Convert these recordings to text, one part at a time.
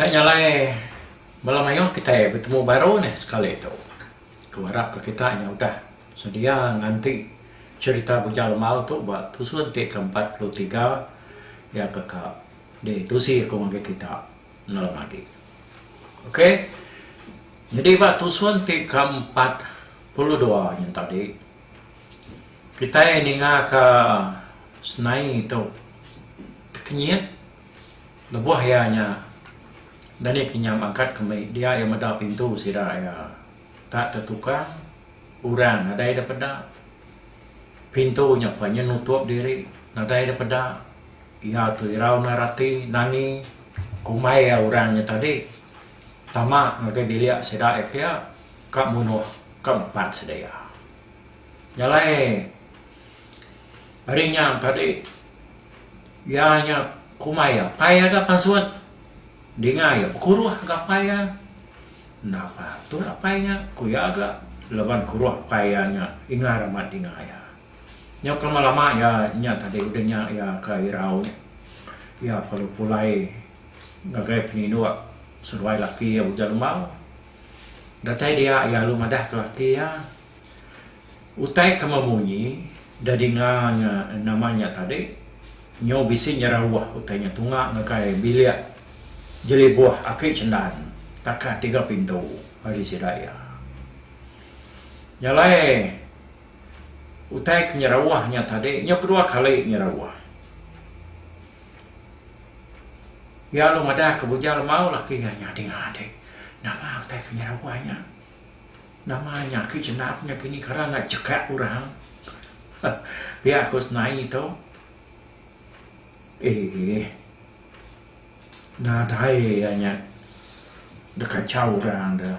Nya nyalai bala mayuh kitai betemu baru nih sekali tu. Aku arap ka kita nya udah sedia nganti cherita Bujang Lemau tu ba tusun ti ke empat puluh tiga iya ke ka ditusi aku ngagai kita nalem agi. Ok. Nyadi ba tusun ti ke empat puluh dua nya tadi. Kitai ninga ka senai tu tekenyit lebuh iya nya dani kinyam angkat kemi dia iya meda pintu sida iya tak tetukang orang nadai da peda pintu nya pa nya nutup diri nadai da peda iya tu irau enda rati nangi kumbai iya orang nya tadi. Tama ngagai bilik sida ai pia ka munoh ka empat sedia. Nyalai ari nya tadi iya nya kumai iya apai iya ga pasut dinga iya bekuruh ga apai iya enda patut apai nya ku iya ga laban kuruh apai iya nya ingar amat dinga iya. Nyau kelama lama iya nya tadi udah nya iya ka irau iya perlu pulai. ngagai penyinuk seduai laki iya Ujan Lemau. Datai dia iya lalu madah ke laki iya, Utai kema munyi da dinga nya nama nya tadi nyu bisi nyerauh utai nya tunga ngagai bilik jelibuh aki Cendan takat tiga pintu ari sida iya. Nya alai utai ke nyerauh nya tadi nya kedua kali nyerauh. Iya lalu madah ke Bujang Lemau laki nya nya dinga ade. Nama utai ke nyerawai nya? Nama nya aki chendap nya pini kara enda chekak orang. Pia ku Senai tu. Eeh. Nadai iya nya dikachau orang da.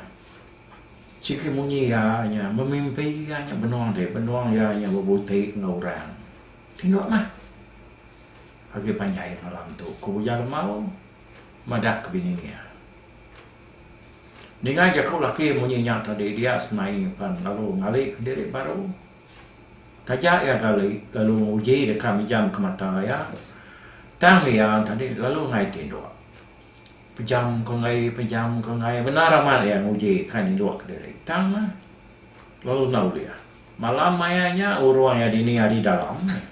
Sigi munyi iya nya memimpi iya nya benung ade, benung iya nya bebuti enggau orang. Tino mah. Agi panjai malam tu, ku Uya Lemau madah ke bini iya. Ninga jaku laki munyi nya tadi dia semai pan lalu ngali ke diri baru. Taja iya gali lalu nguji deka mijam ke mata iya, tang iya tadi lalu ngai tinduk. Pejam ke enggai, pejam ke enggai, bendar amat iya nguji ka ninduk ke diri. Tang mah, lalu enda ulih. Malam maya nya urung iya dini ari dalam meh.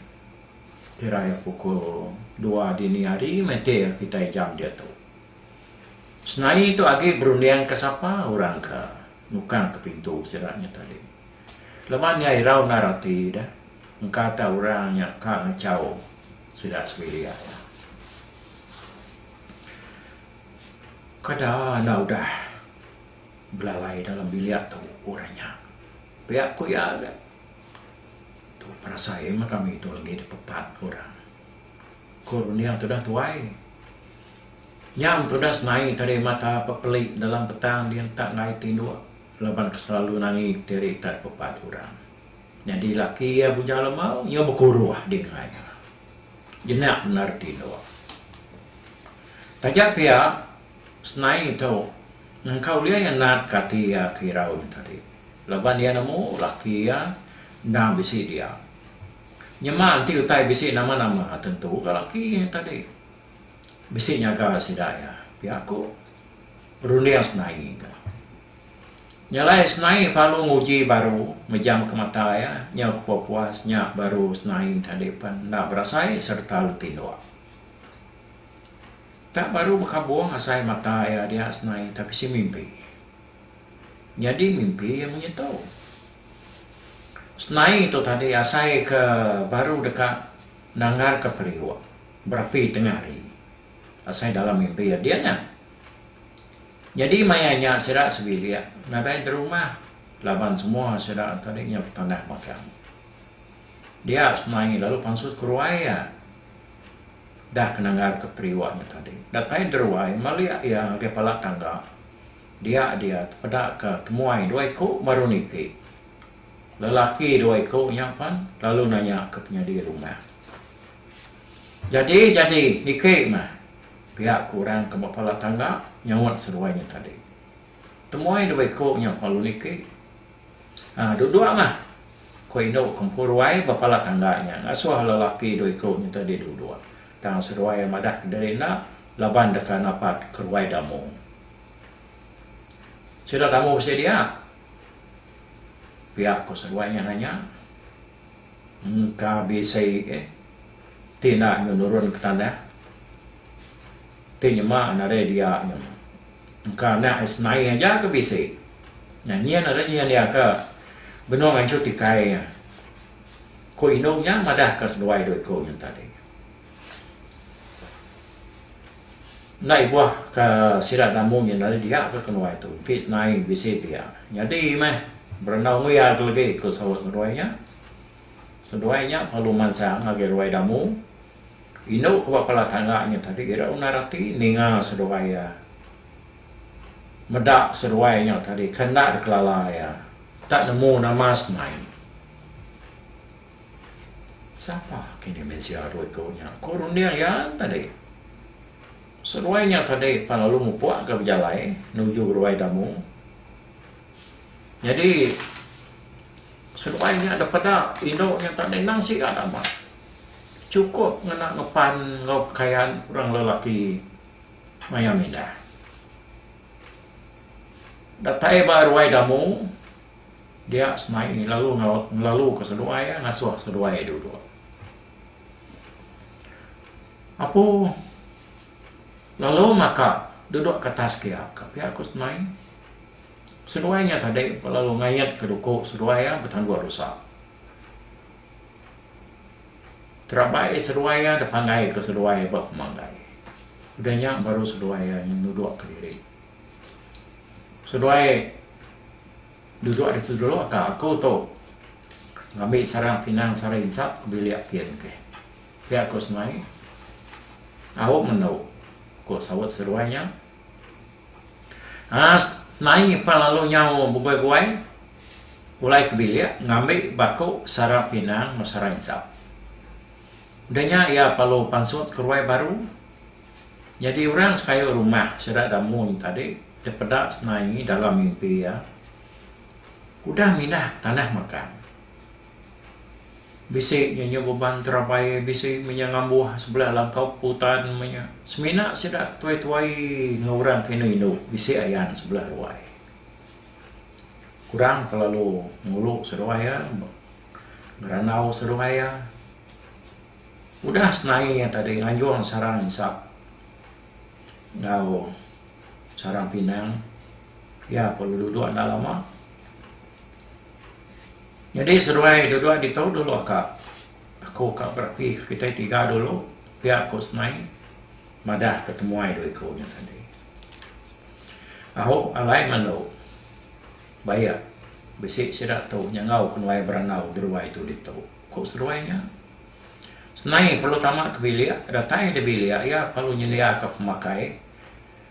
Kira iya pukul dua dini hari matir kitai jam diatu. Senai tu agi berundingka sapa orang ke nukangka pintu sida nya tadi. Laban iya irau endar ati deh engka tau orang nya ka ngachau sida sebilik aya. Kada enda udah belalai dalam bilik tu orang nya. Pia ku iya ga. Tu perasa iya meh kami tu legi dipepat ku orang. Ku Runia tudah tuai. Nyam tudah senai tadi mata pepeli dalam petang dia entak ngai tinduk laban ke selalu nangi diri ita dipepat orang. Nyadi laki iya Bujang Lemau nyau bekuruh di nengah iya. Jenak bendar tinduk. Taja pia Snai tu nyengkau ulih iya nat ke ati iya ke irau nya tadi laban iya nemu laki iya enda bisi dia. Nyema enti utai bisi nama-nama tentu ga laki iya tadi bisi nyaga sida iya pia ku runding snai tu. Nya alai snai pelalu nguji baru mejamka mata iya nyau ke puas-puas nya baru snai tadi pen enda berasai sereta betinduk. Tak baru bekabung asai mata iya dia senai tapi si mimpi. Nyadi mimpi iya munyi tu. Senai tu tadi asai ke baru deka nanggarka periuk berapi tengah hari asai dalam mimpi iya dia nya. Nyadi maya nya sida sebilik nadai derumah laban semua sida tadi nya betanah magang. Dia senai lalu pansut ke ruai iya. Da ke nanggarka periwak nya tadi, datai Deruai malik iya ngagai pala tangga. Dia dia tepeda ke temuai dua iku baru niti. Lelaki dua iku nya pan lalu nanya ke penyadi rumah. Jadi jadi niki mah? pia ku orang ke ba pala tangga nyaut seduai nya tadi. Temuai dua iku nya pan lalu niti. Ah, duduk mah, ku indu Kempu Ruai bepala tangga nya ngasuh lelaki dua iku nya tadi duduk. Tang seduai iya madah ke diri enda laban deka napat ke ruai Damu. Sida Damu bisi dia? pia ku seduai nya nanya. Engka bisi, ti enda nyu nurun ke tanah. Ti nyema nadai dia nya. Engka anak is nai aja ke bisi. Nya nyin ari nyin dia ke benung anchut tikai nya. Ku indu nya madahka seduai dua iku nya tadi. Enda ibuh ke sida gamu nya nadai dia ke kenuai tu. Ti is nai bisi dia. Nyadi meh berendau nguyar ke legi ku saut seduai nya. Seduai nya pelu mansa ngagai ruai damu. Indu ke ba pala tangga nya tadi ira undar ati ninga seduai iya. Meda seduai nya tadi ke enda dikelala iya. Enda nemu nama semai. Sapa ke ini mensia dua iku nya? Ku runding iya tadi. Seduai nya tadi pan lalu mupuk ga bejalai nuju Ruai Damu. Nyadi seduai nya dipeda indu nya tadi endang siga daba. Chukup ngena ngepan enggau pekayan orang lelaki maya mindah. Datai ba ruai damu dia semai lalu ngelaluka seduai ngasuh seduai duduk. Apu lalu maka duduk ke atas kia ka pia ku semai. Seduai nya tadi lalu ngaitka duku seduai betandu rusa. Terabai seduai iya da panggai ke seduai iya ba pemanggai. Udah nya baru seduai iya nudok ke diri. Seduai dudok ditu dulu ka aku tu ngambi sarang pinang sara insa ke bilik ti enti. Pia ku semai. Au menu, ku saut seduai nya. Aas naing ipar lalu nyau bebuai-buai pulai ke bilik ngambi baku sara pinang enggau sara insap. Udah nya iya perlu pansut ke ruai baru. Nyadi orang sekayu rumah sida da Mun tadi deh peda senaie dalam mimpi iya. Udah mindah ke tanah makan. Bisi nya nyau beban terabai bisi menya ngambuh sebelah langkau putan menya semina sida ke tuai-tuai enggau orang ke indu-indu bisi ayan sebelah ruai. Kurang ke lalu ngulu seruai iya ngerandau seruai iya. Udah senai iya tadi nganjung sarang insap enggau sarang pinang iya perlu duduk enda lama. Nyadi seduai duduk ditu dulu ka aku ka berapi kitai tiga dulu pia aku semai madah ke temuai dua iku nya tadi. Au alai ngelu bayak bisi sida tu nyengau kenuai berengau seduai tu ditu. Ku seduai nya senai perlu tama ti bilik datai da bilik iya perlu nyelia ka pemakai.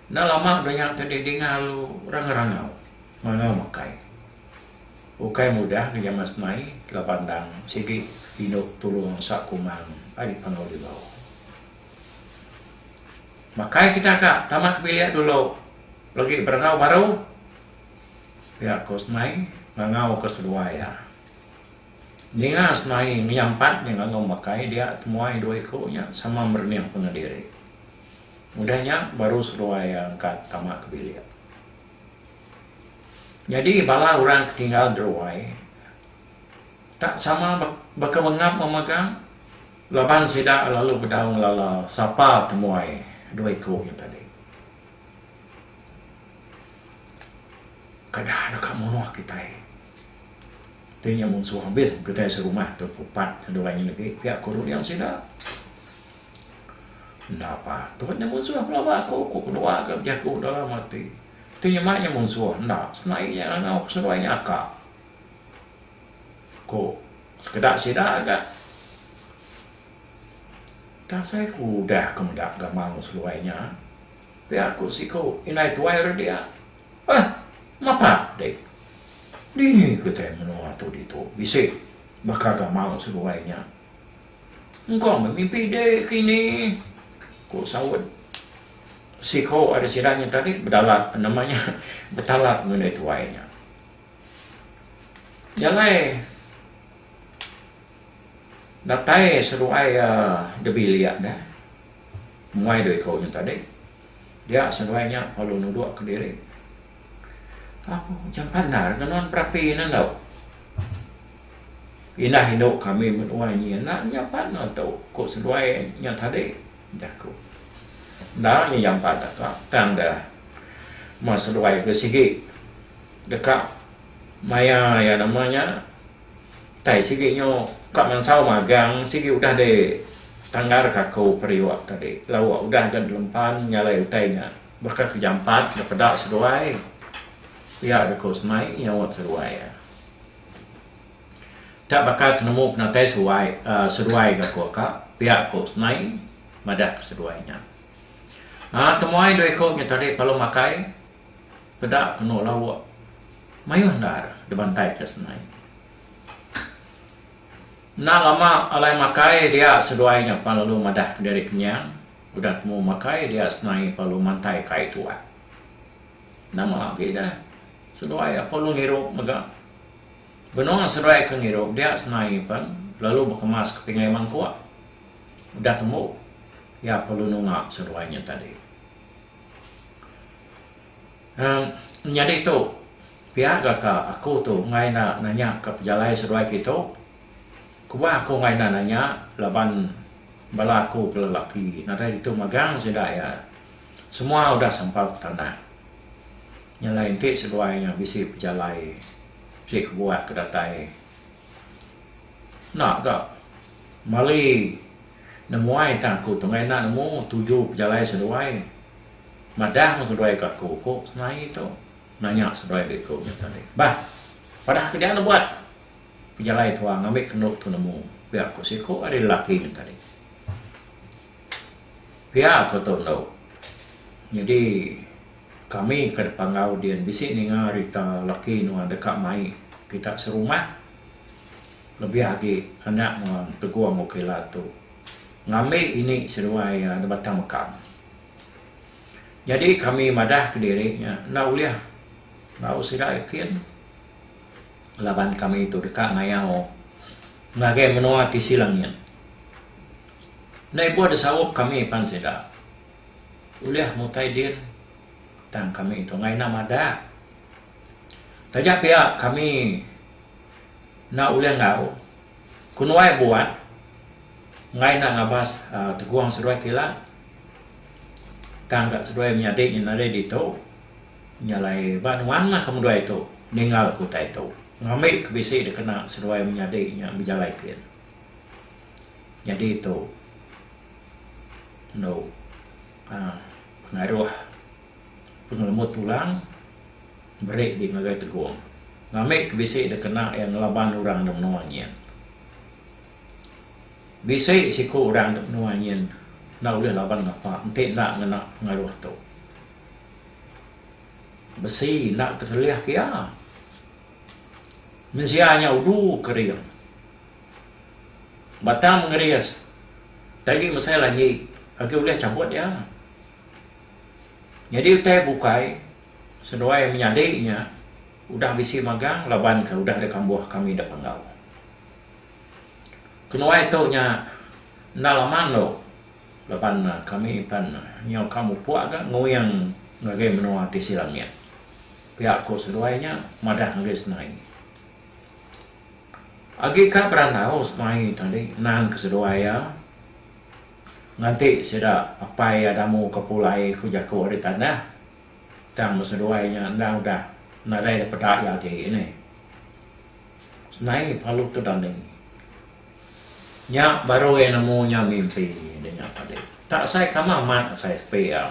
Enda lama daya ke didinga alu orang ngerangau mangau makai. Ukai mudah ke jaman semai laban endang sigi indu tulung ngensak kumang ari pangau dilau. Makai kita ka tama ke bilik dulu legi berengau baru pia ko semai ngangau ke seduai iya. Ninga semai menyampat nya ngangau makai dia temuai dua iku nya sama merening pengendiri. Udah nya baru seduai angkat tama ke bilik. Nyadi bala orang ke tinggal deruai tak sama baka mengap memegang laban sida lalu bedau ngelala sapa temuai dua iku nya tadi. Kada deka munoh kitai. Ti nya munsuh abis kitai serumah tu ke upat ke dua nya agi pia ku rodiang sida. Enda pah. Tuhan nya munsuh aku laban aku, ku keluar ke bejaku dalam ati. Tu nya mai nya munsuh enda. Senaie nya ngangau peseruai nya aka. Ku sekeda sida ga Tang asai ku udah ke meda gamang seruai nya pia ku siku indai tuai ri dia. Oi, mapat deh. Dini kitai menoa tu ditu bisi baka gamang seruai nya. Engkau meh mimpi dek kini, ku saut siko ari sida nya tadi bedalat nama nya betalat ngundah tuai nya. Nya alai datai seduai iya dibilik deh muai dua iko nya tadi dia seduai nya lalu nudok kediri apo jam pandar ke nuan berapi ne enggau. Indah indu kami menuai nyi enda nyampat enda tu, ku seduai nya tadi, jaku. Enda nyi nyampat deka tang da meh seduai ke sigi deka maya iya nama nya tai sigi nyu ka mansau magang sigi udah di tanggar ka aku periuk tadi lauk udah da dilempan nyalai utai nya baka ke jampat da peda seduai pia da ku semai nyaut seduai iya. Ka baka ke nemu penatai seruai seduai ga ko ka, pia ko Snai madah ke seduai nya. Aaa temuai dua iko nya tadi palu makai peda keno lauk mayuh endar dibantai ke Snai. Enda lama alai makai dia seduai nya pan lalu madah ke diri kenyang udah temu makai dia Snai palu mantai kai tuak. Nama agi dah seduai aku lalu ngirup mega. Benung seduai ke ngirup dia senai pen lalu bekemas ke pingai mangkuk. Udah tembu iya perlu nunga seduai nya tadi. Em nyadi tu pia ga ka aku tu enggai enda nanya ka pejalai seduai ke tu. Kubah aku enggai enda nanya laban bala aku ke lelaki nadai ditu magang sida iya. Semua udah sampau ke tanah. Nya alai enti seduai nya bisi pejalai, bisi kebuah ke datai enda ga mali nemuai tang aku tengah enda nemu tuju pejalai seduai madah meng seduai ke aku ku Senaie tu nanya seduai diku nya tadi. Bah padah keja nebuat pejalai tua ngambi kendu tu nemu pia ku siku ari lelaki nya tadi. Pia ku tu endo. Nyadi kami ke deka enggau din bisi ninga rita laki nuan deka mai kita serumah lebih agi anak nuan Tegong Okela tu ngambi ini seduai iya da Batang Mekam. Nyadi kami madah ke diri nya enda ulih enggau sida ikin laban kami tu deka ngayau ngagai menua tisi langit. Enda ibuh disarup kami pan sida. Ulih mutai din tang kami tu enggau ina madah. Taja pia kami enda ulih enggau ku nuai buat enggai enda ngabas tegung seduai kilat tang ka seduai menyadi nya nadai ditu nya alai ba nuan mah ke megai tu ninggal ke utai tu ngambi ke bisi dikena seduai menyadi nya bejalai kin. Nyadi tu endo pengaruh pengelemu tulang meri di ngagai tegong. Ngambi ke bisi da kena iya ngelaban orang da menua nyin. Bisi siku orang da menua nyin enda ulih laban ngapa enti enda ngena pengaruh tu. Besi enda tekelih ke iya. Mensia nya udu kering. Batang mengeris. Tagi mesai lagi, agi ulih chabut iya. Nyadi utai bukai, seduai menyadi nya udah bisi magang laban ke udah ada kambuh kami da Panggau. Kenuai tu nya enda lama endur. Laban kami impan nyau ka mupuk ga nguing ngagai menua ti sida mit. Pia ku seduai nya madah ngagai semai. Agi ka berandau semai tadi nan ke seduai iya nganti sida apai iya damu ka pulai ku jaku ari tanah tang ba seduai nya enda udah nadai dipeda iya agi ini. Semai palu tu dani. Nya baru iya nemu nya mimpi dia nya tadi. Tak sai kamah mat asai sepi iya.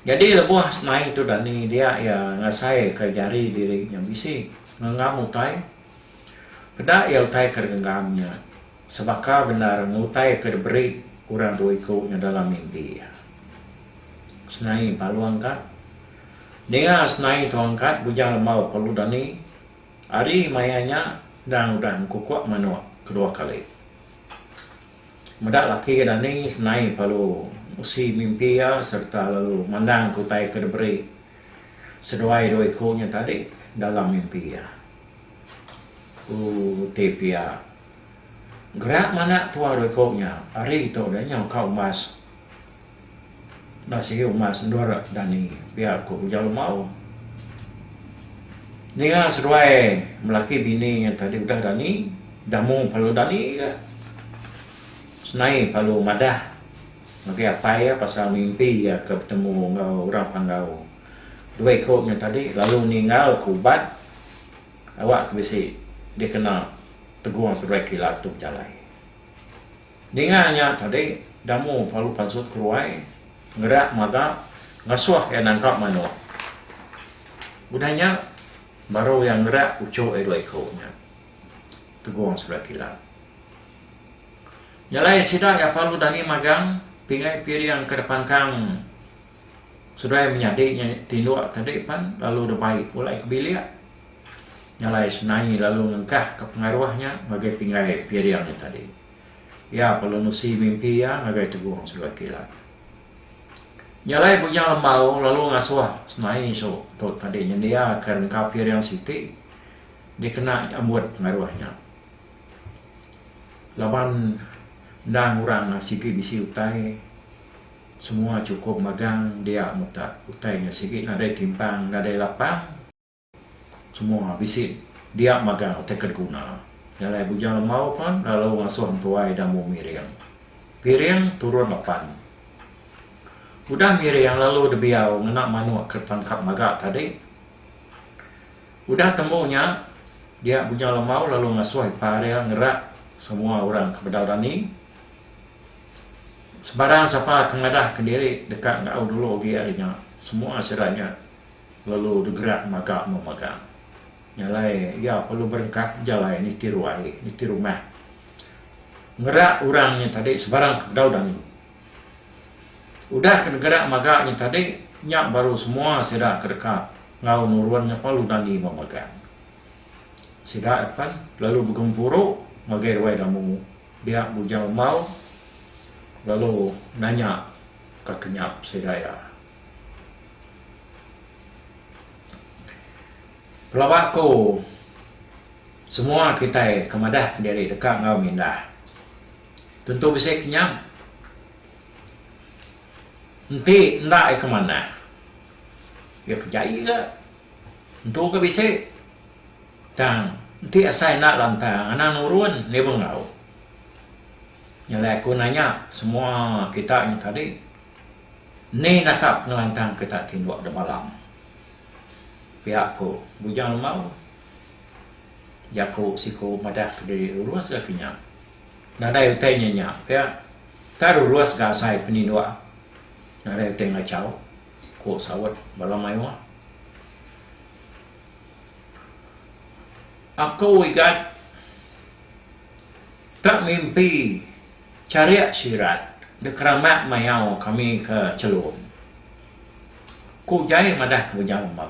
Nyadi lebuh mai tu dani dia iya ngasaika jari diri nya bisi ngenggam utai. Peda iya utai ke digenggam nya sebaka bendar enggau utai ke diberi orang dua iku nya dalam mimpi iya. Senai Palu Angkat. Ninga senai tu angkat bujang lembau Palu Dani. Ari maya nya endang udah engkukuk manuk kedua kali. Meda laki ke dani senai pelalu musi mimpi iya sereta lalu mandangka utai ke diberi seduai dua iku nya tadi dalam mimpi iya. Ku ti pia, Gerak manak tua dua iku nya ari tu deh nyau ka umbas. Enda sigi umas endur dani pia ku Ujau Lemau. Ninga seduai melaki bini nya tadi udah dani, damu palu dani ga. Senai palu madah ngagai apai iya pasal mimpi iya ke betemu enggau orang Panggau. Dua iku nya tadi lalu ninggal ke uban awak ke bisi dikena tegung seduai kilat tu bejalai. Ninga nya tadi, Damu palu pansut keruai, ngerak magap, ngasuh iya nangkap manuk. Udah nya, baru iya ngerak uchuk iya dua iku nya tegong sebelah kilat. Nya alai sida iya palu dani magang, pingai piring ke depangkang. Seduai menyadi nya tinduk ke tadi pan lalu deh baik pulai ke bilik nyalai senaie lalu ngengkah ke pengaruh nya ngagai pinggai piring nya tadi. Iya perlu nusi mimpi iya ngagai tegong seduai kilat. Nyalai bujang lembau lalu ngasuh senaie su tu tadi nyendia ke rengka piring siti dikena nyambut pengaruh nya laban endang orang sigi bisi utai. Semua cukup magang dia mutak utai nya sigi nadai timpang nadai lapang. Semua bisi dia magang utai ke diguna. Nya alai Bujang Lemau pan lalu ngasuh entuai da mu miring. Piring turun lapan. Udah miring lalu debiau ngena manuk ke tangkap maga tadi. Udah temu nya dia Bujang Lemau lalu ngasuh ipar dia ngerak semua orang ke bedau dani. Sebarang sapa ke ngadahka diri deka enggau dulu agi ari nya, semua sida nya lalu digerak maga memegang. Nya alai iya perlu berengkah bejalai niti ruai, niti rumah. Ngerak orang nya tadi sebarang ke bedau dani. Udah ke digerak maga nya tadi, nya baru semua sida ke deka enggau nurun nya perlu dani memegang. Sida pen lalu begempuru ngagai ruai damu. Dia Bujang Emau lalu nanya ka Kenyap sida iya. Pelaba ku semua kitai ke madah kediri deka enggau mindah. Tentu bisi Kenyap. Enti enda iya ke manah, iya ke jai ga. Entu ga bisi. Tang, enti asai enda lantang, anang nurun niba enggau. Nyelai aku nanya semua kita nya tadi, ni naka pengelantang kita tinduk da balang? Pia ku Bujang Lembau. Jaku siku madah ke diri Rurus ga ke nya. Nadai utai nya nya pia. Tang Rurus ga asai peninduk nadai utai ngachau, ku saut bala mayuh. Aku igat ka mimpi charik sirat dek ramak mayau kami ke Chelum. Ku Jai madah ke meja lembau.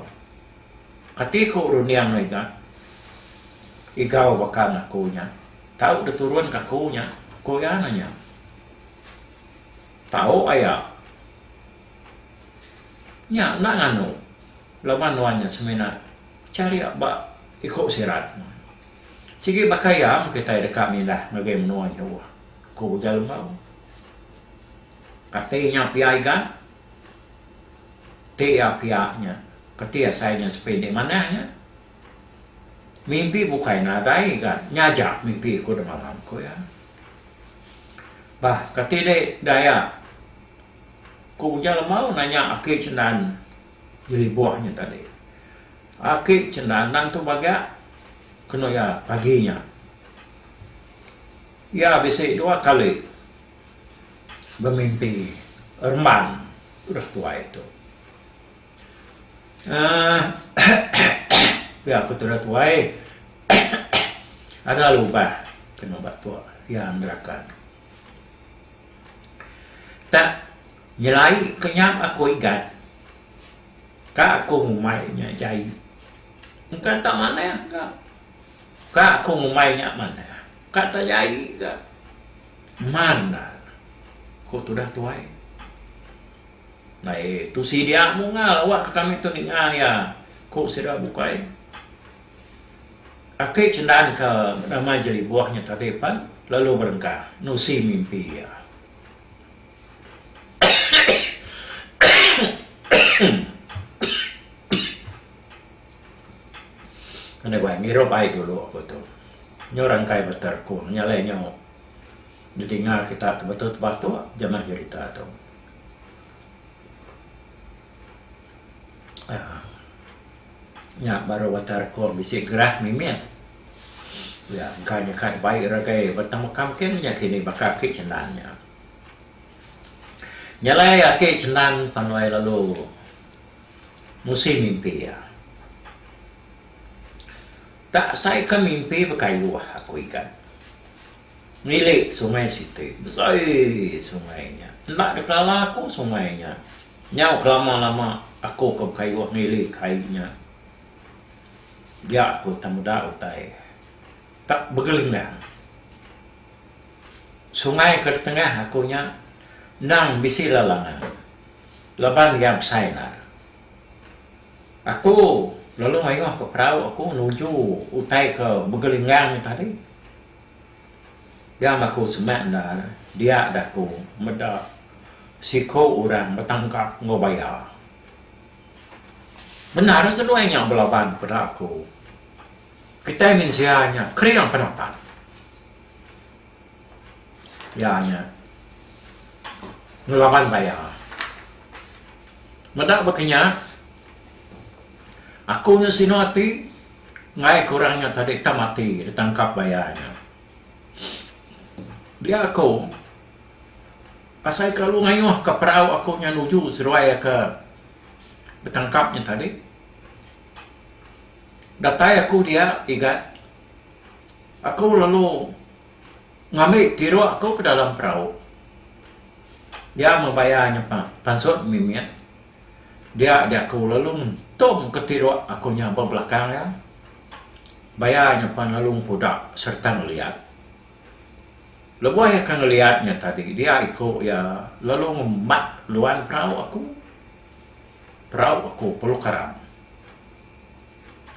Kati ku runding igat igau baka ngan aku nya tau diturun ka aku nya ku iya na nya. Tau aya. Nya enda nganu. Laban nuan nya semina charik ba iku sirat. Sigi baka iya meh kitai deka mindah ngagai menua jauh, ku ujar Lembau. Kati nya pia iga? Ti iya pia nya, kati asai nya sepi enti manah nya? Mimpi bukai nadai iga, nya aja mimpi aku demalam, ku iya. Bah, kati dek daya? ku ujar Lembau nanya aki Cendan Nyeri buah nya tadi. Aki Cendanang tu bagak kenu iya pagi nya. Iya bisi dua kali bemimpi remban udah tuai tu. Aaa pia aku tu udah tuai ada lubah kenu batuk, iya nerakan. Tak Nyelai ke nya aku igat ka aku ngumbai nya jai engka tak manah ga ka aku ngumbai nya manah ka tak jai ga mana ku tudah tuai nai tu sidia mungal awak ke kami tu ninga iya ku sida bukai ake cendan ke nama jelibuh nya tadi pen lalu berengkah nusi mimpi iya. Enda guai ngirup ai dulu aku tu. Nyu rangkai beter ku nyalai nyu didinga kita tebetu tebatu jemah jerita tu. Aa. Nya baru beter ku bisi gerah mimit. Nya engka nyeka bai ragai betemeka mungkin nya kini baka ake cin nan nya. Nyelai ake chenang panoi lalu musi mimpi iya. Tak sai ka mimpi bekayuh aku ikan. Ngili sungai siti besai sungai nya. Enda dek lala aku sungai nya. Nyau ke lama lama aku ke bekayuh ngili kai nya. Dia aku tang meda utai. Tak begelendang sungai ke tengah aku nya endang bisi lalangan laban iya besai endar. Aku lalu mayuh ke perau aku nuju utai ke begelendang tadi. Jam aku semak endar dia daku meda siko orang betangkap enggau baya. Bendar seduai nya belaban peda aku. Kitai mensia nya kering penampak. Iya nya ngelaban baya. Meda baka nya, aku nya sinu ati enggai ke orang nya tadi itam ati ditangkap baya nya. Dia aku asai kelalu ngayuhka perau aku nya nuju seduai ke betangkap nya tadi. Datai aku dia Igat. Aku lalu ngambi tiruk aku ke dalam perau. Dia meh bayar nya pansut mimit. Dia diaku lalu ngentum ke tiruk aku nya ba belakang iya. Bayar nya pan lalu nguda sereta ngeliat. Lebuh iya ke ngeliat nya tadi dia iku iya lalu ngemat luan perau aku. Perau aku perlu karang.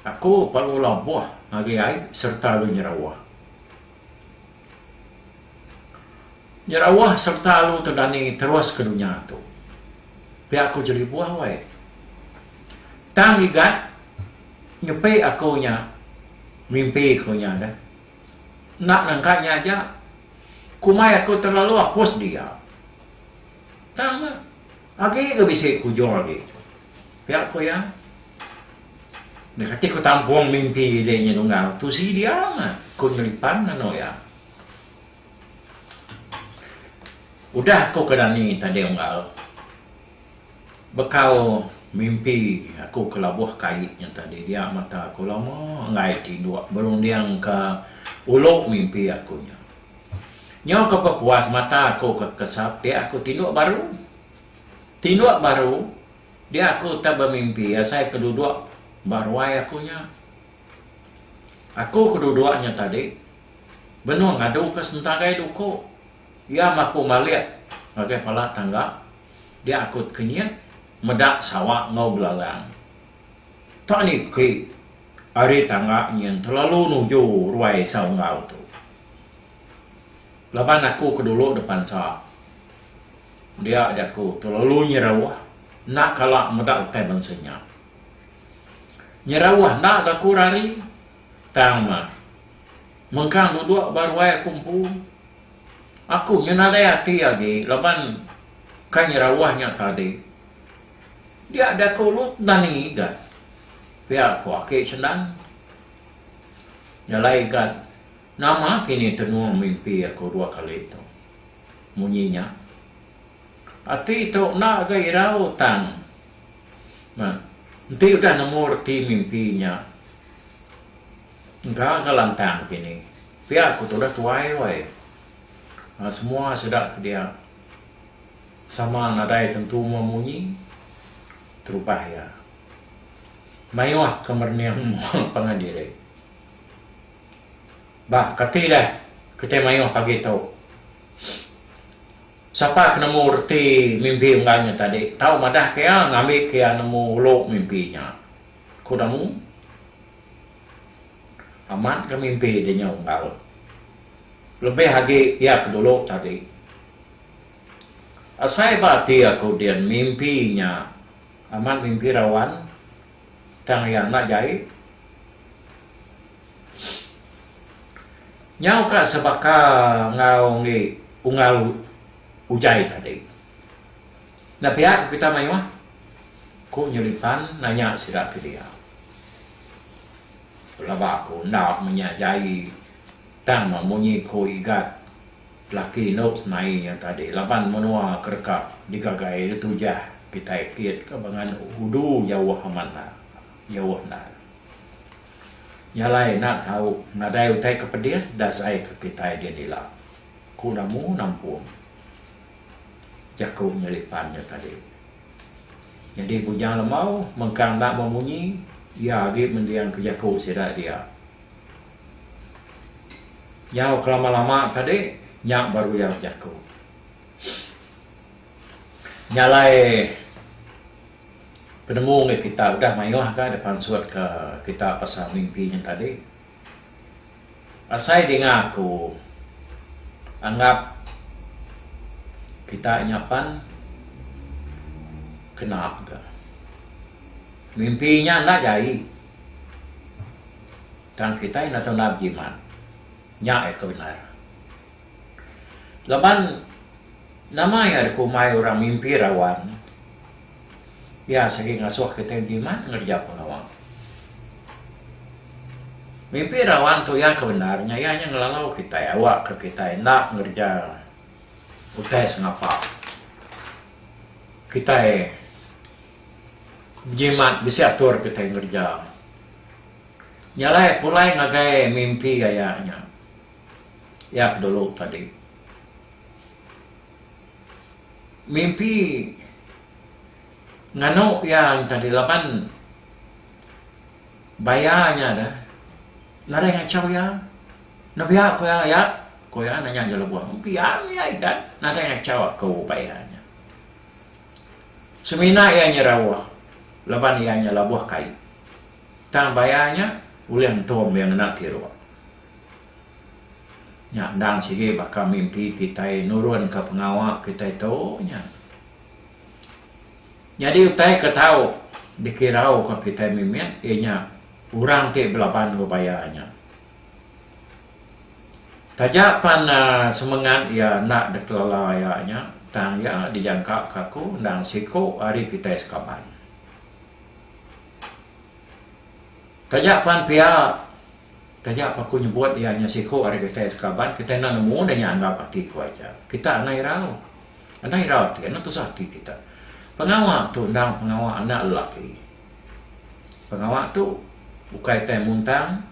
Aku perlu labuh ngagai ai sereta alu nyerawah. Nyerawah sereta alu tedani terus ke dunya tu. Pia aku jeli buah wai. Tang gigat nyepi aku nya mimpi ku nya deh. Enda nangka nya aja, kumai aku telalu apus dia. Tang ne. Agi ke bisi ku Joel agi. Pia ku iya, Enda kati ku tampung mimpi diri nya tunggal. Tusi dia meh ku nyelipan anok iya. Udah aku ke dani tading unggal, bekau mimpi aku ke labuh kai nya tadi dia mata aku lama enggai tinduk berundingka ulu mimpi aku nya. Nyau ke pepuas mata aku ke kesap dia aku tinduk baru. Tinduk baru dia aku utai bemimpi asai ke duduk ba ruai aku nya. Aku ke duduk nya tadi benung ngadu ke sentagai duku. Iya meh aku malik ngagai pala tangga dia aku tekenyit meda sawa enggau belalang. Tang ni beki ari tangga nyin telalu nuju ruai saunggal tu. Laban aku ke dulu depansa dia jaku telalu nyerauh enda kala meda utai bansa nya. Nyerauh enda ga aku rari tang mah mengkang duduk ba ruai aku empu. Aku nyinadai ati agi laban ka nyerauh nya tadi. Dia da ke ulut naning igat, pia ko ake sendan. Jalai igat, nama kini tenung mimpi aku dua kali tu. Munyi nya. Ati tu enda ga irau tang meh enti udah nemu reti mimpi nya. Engka ga lantang kini. Pia ku tudah tuai wai. Semua sida ke dia. Sama nadai tentu mua munyi, terubah iya. Mayuh ke merening mua pangan diri. Ba kati deh kitai mayuh pagi tu. Sapa ke nemu reti mimpi unggal nya tadi, tau madah ke iya ngambi ke iya nemu ulu mimpi nya. Ku Damu, amat ga mimpi di nya unggal. Lebih agi iya ke dulu tadi. Asai ba ati aku din mimpi nya amat mimpi rawan tang iya enda jai. Nyau ka sebaka enggau enggi unggal ujai tadi. Enda pia ka kita mayuh? ku Nyelipan nanya sida ti dia. Pelaba aku enda menya jai tang munyi ku Igat. Laki endo semai iya tadi laban menua ke deka digagai iya tujah kitai kit ke bengan udu jauh amat enda jauh enda. Nya alai enda tau nadai utai ke pedis dasai ke kitai din ila ku namu nampung jaku nya lipan nya tadi. Nyadi Bujang Lemau mengkang enda memunyi iya agi mendingka jaku sida dia. Nyau kelama-lama tadi nya baru iya bejaku. Nya alai penemu ngagai kita udah mayuh aga deh pansut ke kita pasal mimpi nya tadi. Asai dinga aku anggap kita nya pan kena mega. Mimpi nya enda jai. Tang kitai enda tau nap jimat. Nya iya tu bendar. Laban nama iya dikumbai orang mimpi rawan? Iya sagi ngasuh kitai bejimat ngereja pengawa. Mimpi rawan tu iya ke bendar nya iya nya ngelalau kitai awakka kitai enda ngereja utai sengapa. Kitai. Njimat bisi atur kitai ngereja nya alai pulai ngagai mimpi aya nya. Iya ke dulu tadi. Mimpi nganu iya tadi laban baya nya dah nadai ngachau iya. Nembiak ku iya yak? Ku iya nanya Jelebuh. Empian iya igan nadai ngachau aku baya nya. Semina iya nya rauh laban iya nya labuh kai. Tang baya nya ulih entum iya ngena tiruk. Nya endang sigi baka mimpi kitai nurunka pengawa kitai tu nya. Nyadi utai ke tau dikirauka kitai mimit iya nya orang ti belaban enggau baya nya. Taja pan semengat iya enda dikelala iya nya, tang iya dijangkaka aku endang siku ari kitai sekaban. Taja pan pia, taja pa aku nyebut iya nya siku ari kitai sekaban, kitai enda nemu deh iya anggap ati aku aja. Kita enda irau. Enda irau ati, enda tusah ati kita. Pengawa tu endang pengawa anak lelaki. Pengawa tu ukai tai muntang,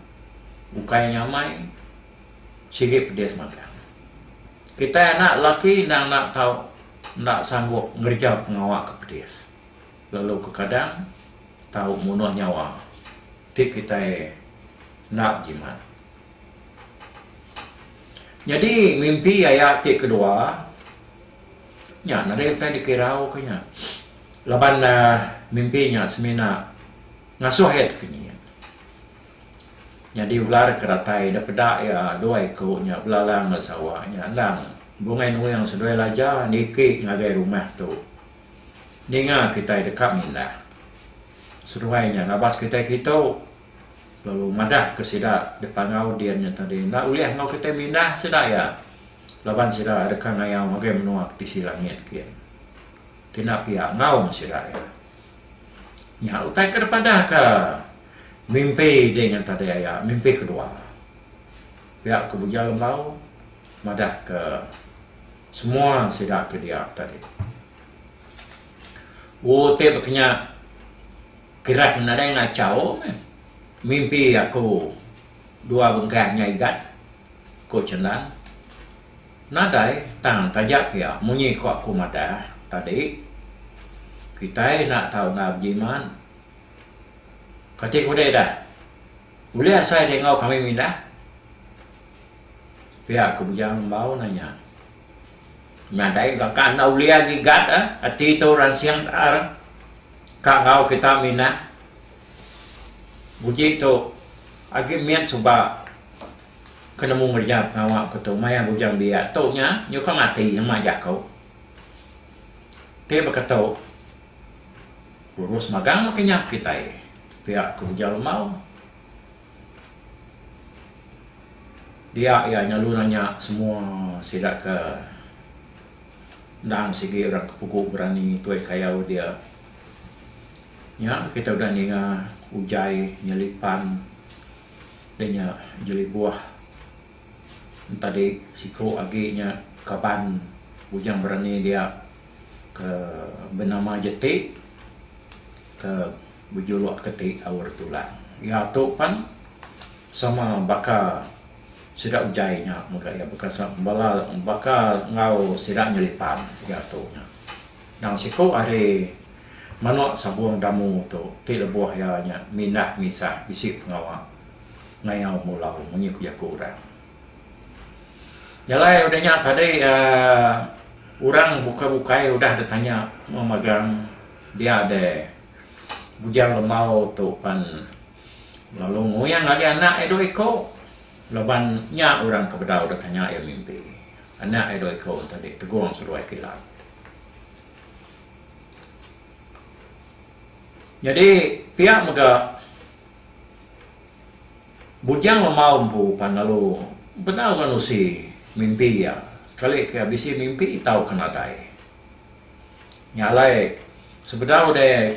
ukai nyamai, sigi pedis magang. Kitai anak lelaki endang enda tau enda sanggup ngereja pengawa ke pedis lalu kekadang tau munuh nyawa ti kitai enda bejimat. Nyadi mimpi aya ti kedua. Nya nadai utai dikirauka nya laban mimpi nya semina ngasuh iya ti sunyi. Nyadi ular ke datai da peda iya dua iku nya belalang enggau sawa nya endang bungai nuing seduai laja niki ngagai rumah tu ninga kitai deka mindah. Seduai nya ngabas kitai kitu lalu madahka sida dipangau din nya tadi enda ulih enggau kitai mindah sida iya. Laban sida deka ngayau ngagai menua ke tisi langit gin. Kina pia ngaum sida iya. Nya utai ke dipadahka mimpi dih ngan tadi aya, mimpi kedua. Pia ku Buja Lembau madahka semua sida ke dia tadi. U ti bekenya kiran nadai ngachau meh mimpi aku. Dua bengkah nya igat, ku Chendan. Nadai tang taja pia munyi ko aku madah tadi. Kitai enda tau enda bejiman. Kati ku deh dah, ulih asai deh enggau kami mindah? Pia ku Bujang Lembau nanya. Nadai ga ka enda ulih agi igat ah, ati tu ransing taar ka enggau kita mindah, Uji tu agi mit suba ke nemu ngereja pengawa aku tu maya bujang biak tu nya nyukung ati nyemak jaku ti baka tu lulus magang meh kenyap kitai pia ke ujar lembau dia iya nyelalu nanya semua sida ke endang sigi orang ke pugu berani tuai kayau dia. Nya kita udah ninga ujai nyeli pan deh nya jeli buah entadi siko agi nya kaban bujang berani dia ke benama jeti ke bejuluk ke ti aur tulang. Iya tu pan sama baka sida ujai nya mega iya baka bala baka enggau sida nyeli pan iya tu nya. Nang siku ari manuk sabung damu tu ti lebuh iya nya mindah misah bisi pengawa ngayau mulau munyi ku jaku orang. Jalai udah nya tadi uhh orang bukai bukai udah deh tanya meh magang dia deh Bujang Lembau tu pan lalu nguing agi anak iya dua iku laban nya orang ke bedau deh tanya iya mimpi anak iya dua iku tadi Tegong Seduai Kilat. Nyadi pia mega Bujang Lemau empu pan lalu bedau ngan usi mimpi iya. Kali ke bisi mimpi tau ke nadai. Nya alai sebedau deh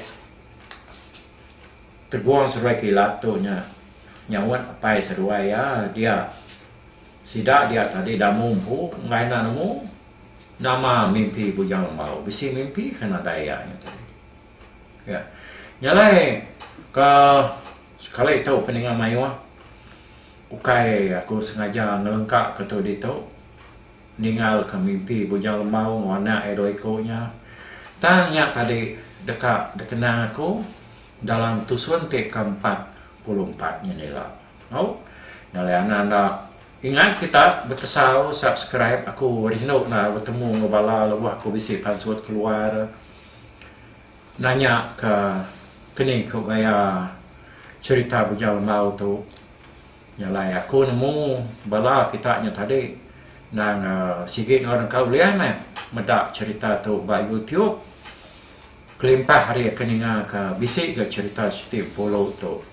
tegung seduai kilat tu nya nyaut apai seduai iya dia sida dia tadi damu empu enggai enda nemu. Nama mimpi Bujang Lembau bisi mimpi ke nadai iya nya tadi. Iya nyalai ke sekali tu peninga mayuh ukai aku sengaja ngelengka ke tu ditu ninggal ke mimpi Bujang Lembau enggau anak iya dua iku nya tang nya tadi deka dikenang aku dalam tusun ti ke empat puluh empat ngini ila. Au ngalai angan da ingat kita betesau subscribe aku rindu nda betemu enggau bala lebuh aku bisi pansut keluar nanya ka keni ko gaya cerita bujang lembau tu ngalai aku nemu bala kita nya tadi nang sigi enggau nang ka ulih meh meda cerita tu ba youtube kelimpah ari aku ninga ka bisi ga cerita siti empu ulu tu.